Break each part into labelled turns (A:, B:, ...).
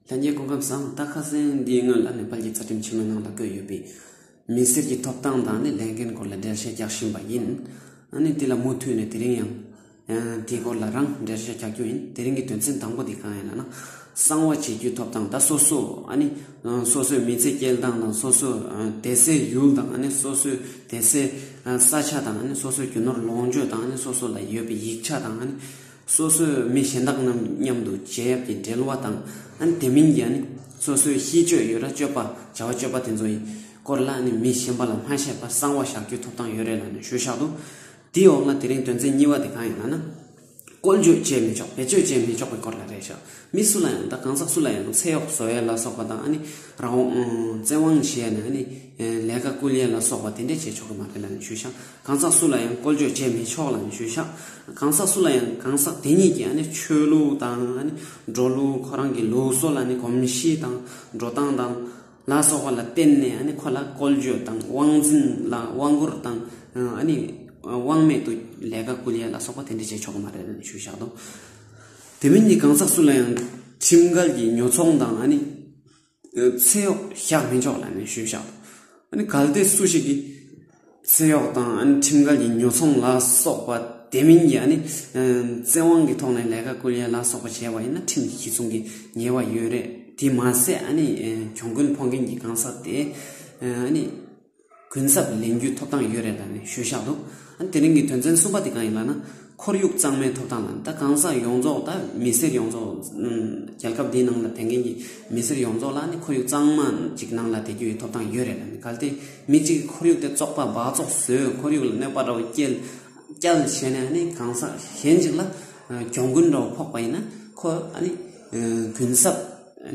A: ལྷན་རྒྱས་སྐུ་ཁམས་སམ་རྟ་ཁ་སེང་གེའི་སྔོན་ལ་ནེ་པལ་གྱི་རྩ་ཁྲིམས་ཆེན་མོའི་ནང་ལ་བཀོད་ཡོད་པའི་མི་སེར་གྱི་ཐོབ་ཐང་དང་ནི་ལས་འགན་སྐོར་ལ་འགྲེལ་བཤད་རྒྱག་བཞིན་པ་ཡིན། ཨ་ནི་དེ་ལ་མུ་མཐུད་ནས་དེ་རིང་ཡང། དེའི་སྐོར་ལ་རང་འགྲེལ་བཤད་རྒྱག་རྒྱུ་ཡིན། དེ་རིང་གི་དོན་ཚན་དང་པོ་དེ་གང་ཡིན་ལ་ན། གསང་བ་བྱེད་རྒྱུའི་ཐོབ་ཐང་ད་སོ་སོ་ཨ་ནི། སོ་སོའི་མི་ཚེ་སྐྱེལ་སྟངས་དང་སོ་སོའི་བསྡད་སའི་ཡུལ་དང་ཨ་ནི་སོ་སོའི་བསྡད་སའི་ས་ཆ་དང་ཨ་ནི་སོ་སོའི་རྒྱུ་ནོར་ལོངས་སྤྱོད་དང་ཨ་ནི་སོ་སོ་ལ་ཡོད་པའི་ཡིག་ཆ་དང་ཨ་ནི། སོ་སོའི་མི་གཞན་དག་རྣམས་མཉམ་དུ་བྱིན་གཡབ་ཀྱིས་འབྲེལ་བ་དང། དེ་མིན་གྱི་ནི་སོ་སོའི་ཤེས་སྤྱོད་ཡོད་ར་སྤྱོད་པ་བྱ་བ་སྤྱོད་པ་དེ་ཚོ་ཡི་སྐོར་ལ་ནི་མི་གཞན་པ་ལ་སྨྲ་ཤེས་པ་གསང་བ་བཞག་རྒྱུའི་ཐོབ་ཐང་ཡོད་རེད་ལ་ནི་ཞུ་བཞག་ཏུ། དེའི་འོག་ན་དེ་རིང་དོན་ཚན་གཉིས་པ་དེ་གང་ཡིན་ལ་ན། བཀོལ་སྤྱོད་བྱས་མི་ཆོག་བེད་སྤྱོད་བྱས་མི་ཆོག་པའི་སྐོར་ལ་རེད་བཞག་མི་སུ་ལ་ཡང་དང་གང་ཟག་སུ་ལ་ཡང་ཚེ་གཡོག་བཟོ་ཡས་ལ་སོགས་པ་དང་ཨ་ནི་རང་དབང་བཙན་དབང་བྱེད་ཡས་ནས་ཨ་ནི་ལས་ཀ་བསྐུལ་ཡས་ལ་སོགས་པ་དེ་འདྲས་བྱས་ཆོག་གི་མ་རེད་ལ་ནི་ཤུལ་བཞག་གང་ཟག་སུ་ལ་ཡང་བསྐོལ་བཅོལ་བྱས་མི་ཆོག་ལ་ནི་ཤུལ་བཞག་གང་ཟག་སུ་ལ་ཡང་གང་ཟག་དེ་ཉིད་ཀྱི་ཨ་ནི་ཆོས་ལུགས་དང་ཨ་ནི་འགྲོ་ལུགས་ཁོ་རང་གི་ལུགས་སྲོལ་ཨ་ནི་གོམས་གཤིས་དང་འགྲོ་སྟངས་དང་ལ་སོགས་པ་ལ་བརྟེན་ནས་ཨ་ནི་ཁོ་ལ་བསྐོལ་བཅོལ་དང་དབང་འཛིན་ལ་དབང་བསྐུར་དང་ཨ་ནི་དབང་མེད་དུ་ལས་ཀ་བསྐུལ་ཡས་ལ་སོགས་པ་དེ་འདྲས་བྱས་ཆོག་གི་མ་རེད་ལ་ནི་ཤུལ་བཞག་དང། དེ་མིན་གྱི་གང་ཟག་སུ་ལ་ཡང་ཁྲིམས་འགལ་གྱི་ཉོ་ཚོང་དང་ཨ་ནི། ཚེ་གཡོག་བཞག་མི་ཆོག་ལ་ནི་ཞུས་བཞག་དང། ཨ་ནི་གལ་ཏེ་སུ་ཞིག་གིས། ཚེ་གཡོག་དང་ཨ་ནི་ཁྲིམས་འགལ་གྱི་ཉོ་ཚོང་ལ་སོགས་པ་དེ་མིན་གྱི་ཨ་ནི། བཙན་དབང་གི་ཐོག་ནས་ལས་ཀ་བསྐུལ་ཡ་ལ་སོགས་པ་བྱས་པ་ཡིན་ན་ཁྲིམས་ཀྱི་གཞི་བཟུང་གི་ཉེས་བ་ཡོད་རེད་དེ་མ་ཟད་ཨ་ནི་གྱོང་གུན་འཕོག་མཁན་གྱི་གང་ཟག་དེས་ཨ་ནི། གུན་གསབ་ལེན་རྒྱུའི་ཐོབ་ཐང་ཡོད་རེད་ལབ་ནས་ཤོད་ཤག་འདུག་ཨ་དེ་རིང་གི་དོན་ཚན་གསུམ་པ་དེ་གང་ཡིན་ལབ་ན་ཁོར་ཡུག་གཙང་མའི་ཐོབ་ཐང་ལ་ད་གང་ཟག་ཡོངས་རྫོགས་ད་མི་སེར་ཡོངས་རྫོགས་རྒྱལ་ཁབ་འདིའི་ནང་ལ་དེ་མཁན་གྱི་མི་སེར་ཡོངས་རྫོགས་ལ་ནི་ཁོར་ཡུག་གཙང་མ་ཅིག་ནང་ལ་དེ་རྒྱུ་ཡི་ཐོབ་ཐང་ཡོད་རེད་ལབ་ནས་གལ་ཏེ་མི་གཅིག་གི་ཁོར་ཡུག་དེ་བཙོག་པ་སྦག་བཙོག་བཟོས་ཁོར་ཡུག་ལ་གནོད་པ་འདྲ་བོ་བསྐྱལ་བསྐྱལ་བྱས་ནས་ཨ་ནི་གང་ཟག་གཞན་ཅིག་ལ་གྱོང་གུན་འདྲ་བོ་ཕོག་པ་ཡིན་ན་ཁོ་ཨ་ནི་གུན་གསབ་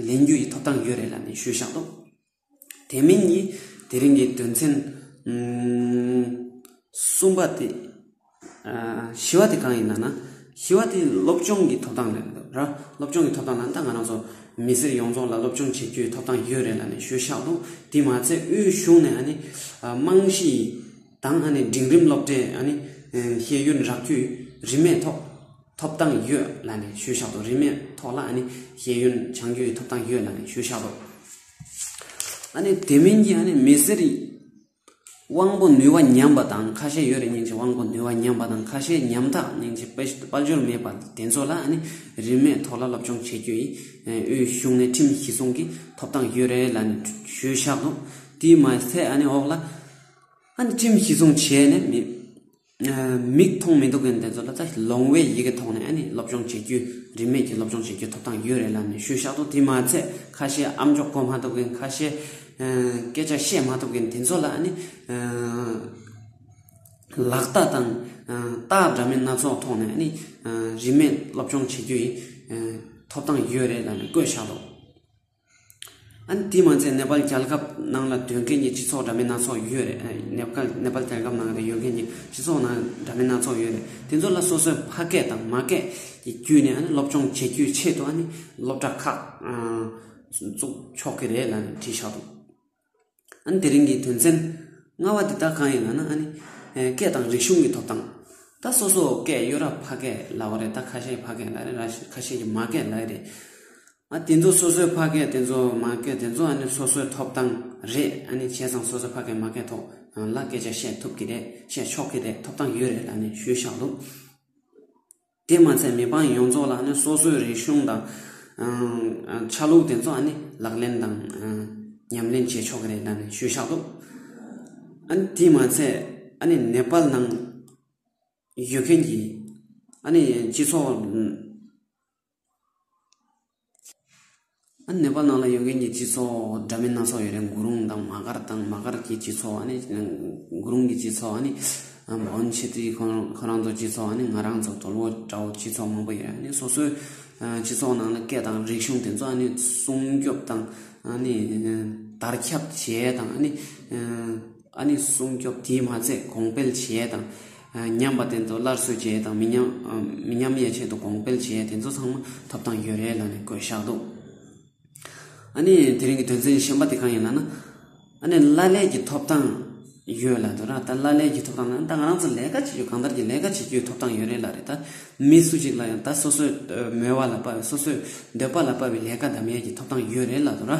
A: ལེན་རྒྱུ་ཡི་ཐོབ་ཐང་ཡོད་རེད་ལབ་ནས་ཤོད་ཤག་འདུག། དེ་མིན་གྱི་དེ་རིང་གི་དོན་ཚན་གསུམ་པ་དེ་བཞི་བ་དེ་གང་ཡིན་ན་བཞི་བ་དེ་སློབ་སྦྱོང་གི་ཐོབ་ཐང་རེད་ར་སློབ་སྦྱོང་གི་ཐོབ་ཐང་ནང་ད་ང་རང་ཚོ་མི་སེར་ཡོངས་རྫོགས་ལ་སློབ་སྦྱོང་བྱེད་རྒྱུའི་ཐོབ་ཐང་ཡོད་རེད་ལ་ནི་ཞུས་ཤག་འདུག་དེ་མ་ཚད་དབུས་གཞུང་ནས་ཨ་ནི་རྨང་གཞི་དང་ཨ་ནི་འབྲིང་རིམ་སློབ་གྲྭའི་ཨ་ནི་ཤེས་ཡོན་རག་རྒྱུའི་རིན་མེད་ཐོག་ཐོབ་ཐང་ཡོད་ལ་ནི་ཞུས་ཤག་འདུག་རིན་མེད་ཐོག་ལ་ཨ་ནི་ཤེས་ཡོན་སྦྱང་རྒྱུའི་ཐོབ་ཐང་ཡོད་ལ་ནི་ཞུས་ཤག་འདུག། ཨ་ནི་དེ་མིན་གྱི་ཨ་ནི་མི་སེར་དབང་པོ་ནུས་བ་ཉམས་པ་དང་ཁ་ཤས་ཡོད་རེད་སྙིང་རྗེ་དབང་པོ་ནུས་བ་ཉམས་པ་དང་ཁ་ཤས་ཉམས་ཐག་སྙིང་རྗེ་དཔའ་འབྱོར་མེད་པ་དེ་ཚོ་ལ་ཨ་ནི་རིན་མེད་ཐོག་ལ་སློབ་སྦྱོང་བྱེད་རྒྱུ་ཡིན་དབུས་གཞུང་ནས་ཁྲིམས་གཞི་སྲུང་གི་ཐོབ་ཐང་ཡོད་རེད་ལ་ཞུས་བཞག་འདུག་དེའི་མ་ཚད་ཨ་ནི་འོག་ལ་ཨ་ནི་ཁྲིམས་གཞི་སྲུང་བྱས་ནས་མི། མིག་མཐོང་མི་འདུག་གི་འདི་ཚོ་ལ་ད་ལོང་བའི་ཡི་གེ་ཐོག་ནས་ཨ་ནི་སློབ་སྦྱོང་བྱེད་རྒྱུ་རིན་མེད་ཀྱི་སློབ་སྦྱོང་བྱེད་རྒྱུ་ཐོབ་ཐང་ཡོད་རེད་ལབ་ནས་ཤུལ་བཞག་ཏུ་དེ་མ་ཚད་ཁ་ཤས་ཨ་མཆོག་གོ་མ་ཐུབ་གི་ཁ་ཤས་སྐད་ཆ་བཤད་མ་ཐུབ་གི་དེ་ཚོ་ལ་ཨ་ནི་ལག་རྟགས་དང་རྟགས་འདྲ་མིན་སྣ་ཚོགས་ཐོག་ནས་ཨ་ནི་རིན་མེད་སློབ་སྦྱོང་བྱེད་རྒྱུ་ཡི་ཐོབ་ཐང་ཡོད་རེད་ལབ་ནས་བཀོད་བཞག་འདུག། དེའི་མ་ཚད་ནེ་པ་ལ་རྒྱལ་ཁབ་ནང་ལ་སྡོད་མཁན་གྱི་སྤྱི་ཚོགས་འདྲ་མིན་སྣ་ཚོགས་ཡོད་རེད། ནེ་པ་ནེ་པ་ལ་རྒྱལ་ཁབ་ནང་ལ་ཡོད་མཁན་གྱི་སྤྱི་ཚོགས་ནང་འདྲ་མིན་སྣ་ཚོགས་ཡོད་རེད། དེ་ཚོ་ལ་སོ་སོའི་ཕ་སྐད་དང་མ་སྐད་ཀྱི་བརྒྱུད་ནས་སློབ་སྦྱོང་བྱེད་རྒྱུའི་ཆེད་དུ་སློབ་གྲྭ་ཁག་བཙུགས་ཆོག་གི་རེད་ལ་དྲིས་ཆོག་གི། ཨ་ནི་དེ་རིང་གི་དོན་ཚན་ལྔ་བ་འདི་དག་གང་ཡིན་ལགས་ན་ཨ་ནི། སྐད་དང་རིག་གཞུང་གི་ཐོབ་ཐང། ད་སོ་སོ་སྐད་གཡོ་ར་ཕ་སྐད་ལ་བ་རེད་ད་ཁ་ཤས་ཕ་སྐད་ལ་རེད་ར་ཁ་ཤས་ཀྱི་མ་སྐད་ལ་རེད། ཨ་དེ་ཚོ་སོ་སོའི་ཕ་སྐད་དེ་ཚོ་མ་སྐད་དེ་ཚོ་ཨ་ནི་སོ་སོའི་ཐོབ་ཐང་རེད་ཨ་ནི་བྱས་ཙང་སོ་སོའི་ཕ་སྐད་མ་སྐད་ཐོག་ལ་སྐད་ཆ་བཤད་ཐུབ་ཀྱི་རེད་བཤད་ཆོག་གི་རེད་ཐོབ་ཐང་ཡོད་རེད་ལ་ནི་ཞུས་བཞག་འདུག། དེས་མ་ཚད་མི་འབངས་ཡོངས་རྫོགས་ལ་ནི་སོ་སོའི་རིག་གཞུང་དང། ཆ་ལུགས་དེ་ཚོ་ནི་ལག་ལེན་དང། ཉམས་ལེན་བྱེད་ཆོག་གི་རེད་ད་ནི་ཤོད་ཤག་ཏུ། དེས་མ་ཚད་ཨ་ནི་ནེ་པལ་ནང་ཡོད་མཁན་གྱི་ཨ་ནི་སྤྱི་ཚོགས། ནེ་པ་ལ་ཡོད་མཁན་གྱི་སྤྱི་ཚོགས་འདྲ་མིན་སྣ་ཚོགས་ཡོད་རེད་འགུ་རུང་དང་མ་ཀར་དང་མ་ཀར་གྱི་སྤྱི་ཚོགས་ནི་འགུ་རུང་གི་སྤྱི་ཚོགས་ནི་བོན་ཆེ་ཏི་ཁོ་ཁོ་རང་ཚོ་སྤྱི་ཚོགས་ནི་ང་རང་ཚོ་དོལ་བོ་དགྲ་བོ་སྤྱི་ཚོགས་མང་པོ་ཡོད་རེད་སོ་སོའི་སྤྱི་ཚོགས་ནང་ལ་སྐད་དང་རིག་གཞུང་དེ་ཚོ་ནི་སྲུང་སྐྱོབ་དང་ནི་དར་ཁྱབ་བྱེད་དང་ནི་ཨ་ནི་སྲུང་སྐྱོབ་དེས་མ་ཚད་གོང་སྤེལ་བྱས་དང་ཉམས་པ་བསྟེན་ཏོ་སླར་གསོས་བྱས་དང་མི་ཉམས་ཡས་ཆད་དུ་གོང་སྤེལ་བྱས་དེ་ཚོ་ཚང་མ་ཐོབ་ཐང་ཡོད་རེད་ལ་ནི་དགོས་བཞག་འདུག་ཨ་ནི་དེ་རིང་གི་དོན་ཚན་གཞན་པ་དེ་གང་ཡིན་ལ་ན་ཨ་ནི་བླ་ལས་ཀྱི་ཐོབ་ཐང་ཡོད་ལ་འདུག་ར་ད་བླ་ལས་ཀྱི་ཐོབ་ཐང་ལ་ད་ང་རང་ཚོ་ལས་ཀ་བྱེད་རྒྱུ་གང་ལྟར་གྱི་ལས་ཀ་བྱེད་རྒྱུའི་ཐོབ་ཐང་ཡོད་རེད་ལ་རེད་ད་མི་སུ་གཅིག་ལ་ཡང་ད་སོ་སོའི་མོས་བ་ལ་དཔའ་བའི་སོ་སོའི་འདོད་པ་ལ་དཔའ་བའི་ལས་ཀ་དམ་ཡས་ཀྱི་ཐོབ་ཐང་ཡོད་རེད་ལ་འདུག་ར།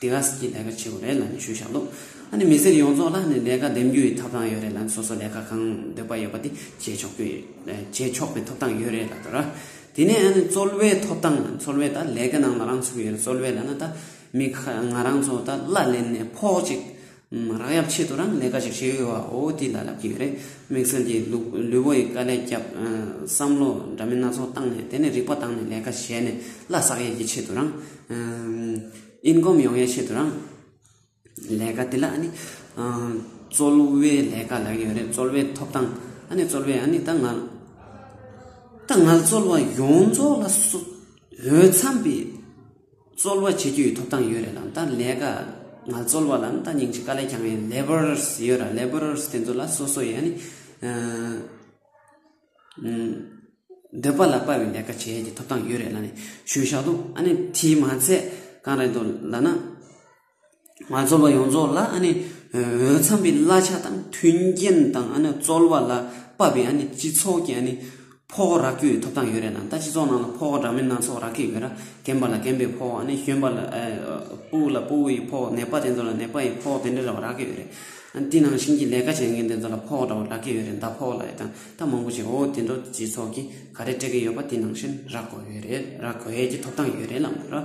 A: དེ་ག་ཟེར་གྱི་ལས་ཀ་ཆེ་བོ་རེད་ལམ་ཞུས་བཞག་འདུག་ཨ་ནི་མི་སེར་ཡོངས་རྫོགས་ལ་ནི་ལས་ཀ་འདེམས་རྒྱུ་ཡི་ཐོབ་ཐང་ཡོད་རེད་ལམ་སོ་སོ་ལས་ཀ་གང་འདོད་པ་ཡོད་པ་དེ་བྱེད་ཆོག་རྒྱུ་བྱེད་ཆོག་པའི་ཐོབ་ཐང་ཡོད་རེད་ལབ་དོར་དེ་ནས་ཨ་ནི་རྩོལ་བའི་ཐོབ་ཐང་རྩོལ་བས་ད་ལས་ཀ་ནང་ལ་རང་ཚུགས་ཡོད་རེད་རྩོལ་བས་ལ་ན་ད་མི་ཁ་ང་རང་ཚོ་ད་གླ་ལེན་ནས་ཕོག་ཅིག་རག་ཡབ་ཆེད་དུ་རང་གི་ལས་ཀ་ཞིག་བྱེད་འོས་བའོ་དེ་ལ་ལབ་ཀྱི་ཡོད་རེད་དམིགས་བསལ་གྱི་ལུས་པོ་ཡི་དཀའ་ལས་བརྒྱབ། བསམ་བློ་འདྲ་མིན་སྣ་ཚོགས་བཏང་ནས་དེ་ནས་རིག་པ་བཏང་ནས་ལས་ཀ་བྱས་ནས་བླ་བསགས་ཡས་ཀྱི་ཆེད་དུ་རང། Income། ཡོང་ཡས་ཆེད་དུ་རང། ལས་ཀ་དེ་ལ་ཨ་ནི། རྩོལ་བའི་ལས་ཀ་ལབ་ཀྱི་ཡོད་རེད་རྩོལ་བའི་ཐོབ་ཐང་ཨ་ནི་རྩོལ་བའི་ཨ་ནི་ད་ང། ད་ང་རྩོལ་བ་ཡོངས་རྫོགས་ལ། འོས་འཚམས་པའི། རྩོལ་བ་བྱེད་རྒྱུའི་ཐོབ་ཐང་ཡོད་རེད་དམ་ད་ལས་ཀ་ང་རྩོལ་བ་ལ་ནི་ད་ཉིང་ཅིག་དཀའ་ལས་ཀྱང་ཡིན labours ཡོད་ར labours དེ་ཚོ་ལ་སོ་སོ་ཡ་ནི་འདོད་པ་ལ་དཔའ་བའི་ལས་ཀ་བྱེད་ཡ་གྱི་ཐོབ་ཐང་ཡོད་རེད་ལ་ནི་ཞུ་བཞག་དུ་ཨ་ནི་དེའི་མ་ཚད་གང་རེད་དུ་ལ་ན། ང་ཚོ་བ་ཡོངས་རྫོགས་ལ་ཨ་ནི་འོས་འཚམས་པའི་གླ་ཆ་དང་མཐུན་རྐྱེན་དང་ཨ་ནི་རྩོལ་བ་ལ་དཔག་པའི་ཨ་ནི་སྤྱི་ཚོགས་ཀྱི་ཨ་ནི་ཕོག་རག་རྒྱུའི་ཐོབ་ཐང་ཡོད་རེད་དམ་ད་སྤྱི་ཚོགས་ནང་ལ་ཕོག་འདྲ་མིན་སྣ་ཚོགས་རག་གི་ཡོད་ར་རྒན་པ་ལ་རྒན་པའི་ཕོག་ཨ་ནི་གཞོན་པ་ལ་སྤུ་ལ་སྤུ་ཡི་ཕོག་ནད་པ་དེ་ཚོ་ལ་ནད་པ་ཡི་ཕོག་དེ་འདྲ་ར་བ་རག་གི་ཡོད་རེད་དེ་ནང་བཞིན་གྱི་ལས་ཀ་བྱེད་མཁན་དེ་ཚོ་ལ་ཕོག་འདྲ་བ་རག་གི་ཡོད་རེད་མདའ་ཕོག་ལ་ཡི་དང་ད་མང་པོ་ཞིག་འོ་དེ་འདྲ་སྤྱི་ཚོགས་ཀྱི་ག་རེ་སྤྲད་གི་ཡོད་པ་དེ་ནང་བཞིན་རག་དགོས་ཡོད་རེད་རག་དགོས་ཡས་ཀྱི་ཐོབ་ཐང་ཡོད་རེད་ལ་མོ་ར།